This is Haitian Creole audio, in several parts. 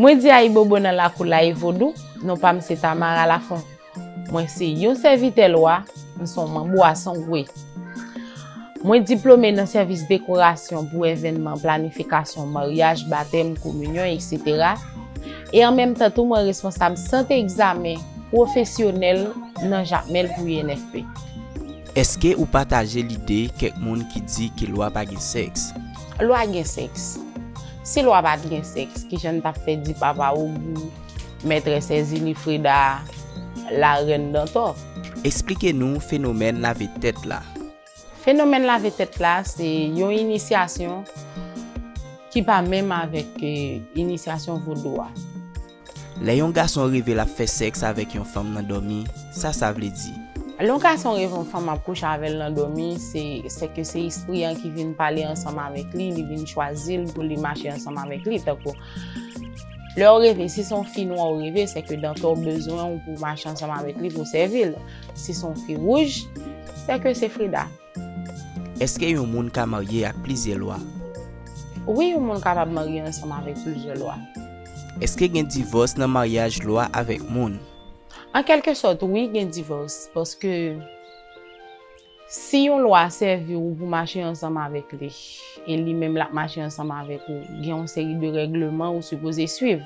Mwen di ayibobo nan lakou Laye Vodou, non pa m se Tamara Lafont. Mwen se yon sèvitè lwa, m se yon manm bwason gwe. Mwen diplome nan sèvis dekorasyon pou evènman, planifikasyon, maryaj, batèm, kominyon, etc. E an menm tan tou mwen responsab sant egzamen pwofesyonèl nan Jakmèl pou UNFP. Èske ou pataje lide kèk moun ki di ke lwa pa gen sèks? Lwa gen sèks. Si lwa pa t gen sèks, ki jan n t ap fè di Papa Ogou, Mètrès Èzili Freda, Larèn Dantò? Esplike nou fenomèn lave tèt la. Fenomèn lave tèt la se yon inisyasyon ki pa menm avèk inisyasyon vodou a. Lè yon gason reve l ap fè sèks avèk yon fanm nan dòmi, sa sa vle di? Lè yon gason reve yon fanm ap kouche avè l nan dòmi, se ke se espri an ki vin pale ansanm avèk li, li vin chwazi l pou li mache ansanm avèk li. Tankou, lè w reve, si se yon fi nwa ou reve, se ke Dantò bezwen w pou w mache ansanm avèk li pou w sèvi l. Si se yon fi wouj, se ke se Freda. Eske yon moun ka marye ak plizyè lwa? Wi yon moun kapab marye ansanm avèk plizyè lwa. Eske gen divòs nan maryaj lwa avèk moun? An kèlke sòt wi gen divòs paske si yon lwa sèvi ou pou mache ansanm avèk li e li menm lap mache ansanm avèk ou gen yon seri de règleman ou sipoze swiv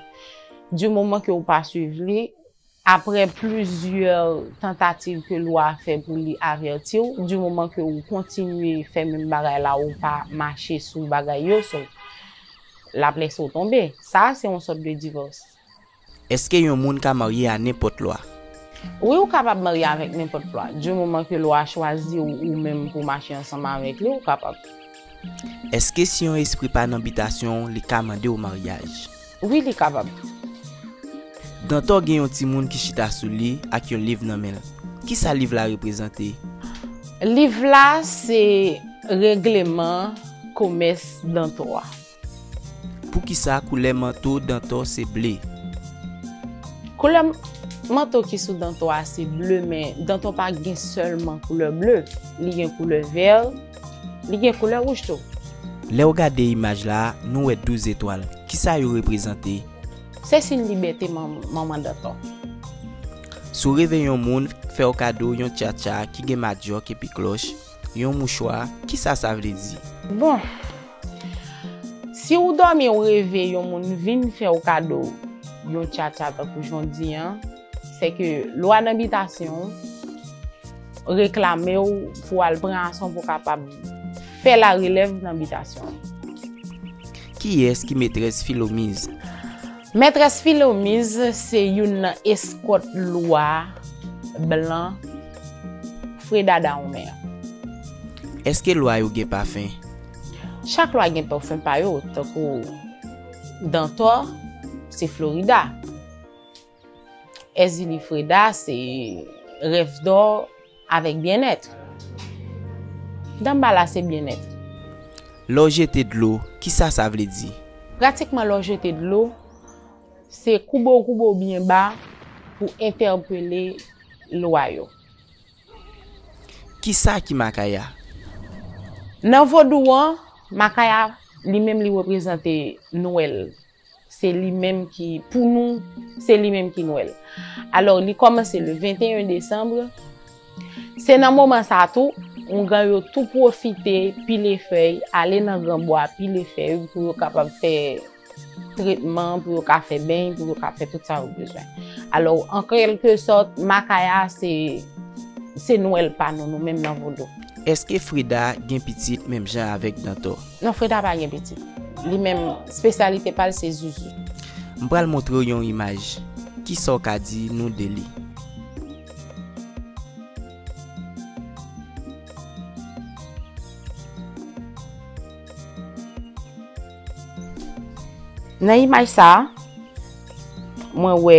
di moman ke ou pa swiv li Aprè plizyè tantativ ke lwa a fè pou li avèti w, di moman ke ou kontinye fè menm bagay la ou pa mache sou bagay yo so lap lèse w tonbe. Sa a se yon sòt de divòs. Eske yon moun ka marye a nenpòt lwa? Wi ou kapab marye avèk nenpòt lwa. Di moman ke lwa a chwazi w ou menm pou mache ansanm avèk li ou kapab. Eske si yon espri pa nan bitasyon w li ka mande w maryaj? Wi li kapab. Dantò gen yon timoun ki chita sou li ak yon liv nan men l. Kisa liv la reprezante? Liv la se regleman komès Dantò a. Poukisa koulè manto Dantò se ble? Koulè manto ki sou Dantò a se ble men Dantò pa gen sèlman koulè ble, li gen koulè vè, li gen koulè wouj tou. Lè ou gade imaj la, nou wè 12 etwal. Kisa yo reprezante? Se siy libète manman Dantò. Si w reve yon moun fè w kado yon tchatcha ki gen madyòk epi klòch, yon mouchwa, kisa sa vle di? Bon! Si ou dòmi ou reve yon moun vin fè ou kado yon tchatcha tankou jan di an, se ke lwa nan bitasyon reklame ou pou al pran ason pou kapab fè la relèv nan bitasyon an. Kiyès ki Metrès Filomiz? Metrès Filomiz se youn nan eskòt lwa blan fredadawonmen an. Eske lwa yo gen pafen? Chak lwa gen pafon pa yo, tankou Dantò se Florida, Èzili Freda se rèv dò avèk byennèt, Danbala se byennèt. Lè w jete dlo, kisa sa vle di? Pratikman lè w jete dlo, se koube w koube w byen ba pou entèpele lwa yo. Kisa ki Makaya? Nan vodou an, Makaya li menm li reprezante Nwèl. Se li menm ki, pou nou, se li menm ki Nwèl. Alò, li kòmanse le 21 desanbre. Se nan moman sa a tou, Oungan yo tou pwofite pile fèy, ale nan gran bwa pile fèy pou yo kapab fè. tretman pou yo ka fè beny, pou yo ka fè tout sa yo bezwen. Alò, an kèlke sòt, makaya se, se nwèl pa nou, nou menm nan vodou. Eske Freda gen pitit menm jan avèk Dantò? Non, Freda pa gen pitit. Li menm, spesyalite pa l se zuzu. M pral montre w yon imaj. Ki sa w ka di nou de li? Nan imaj sa a, mwen wè.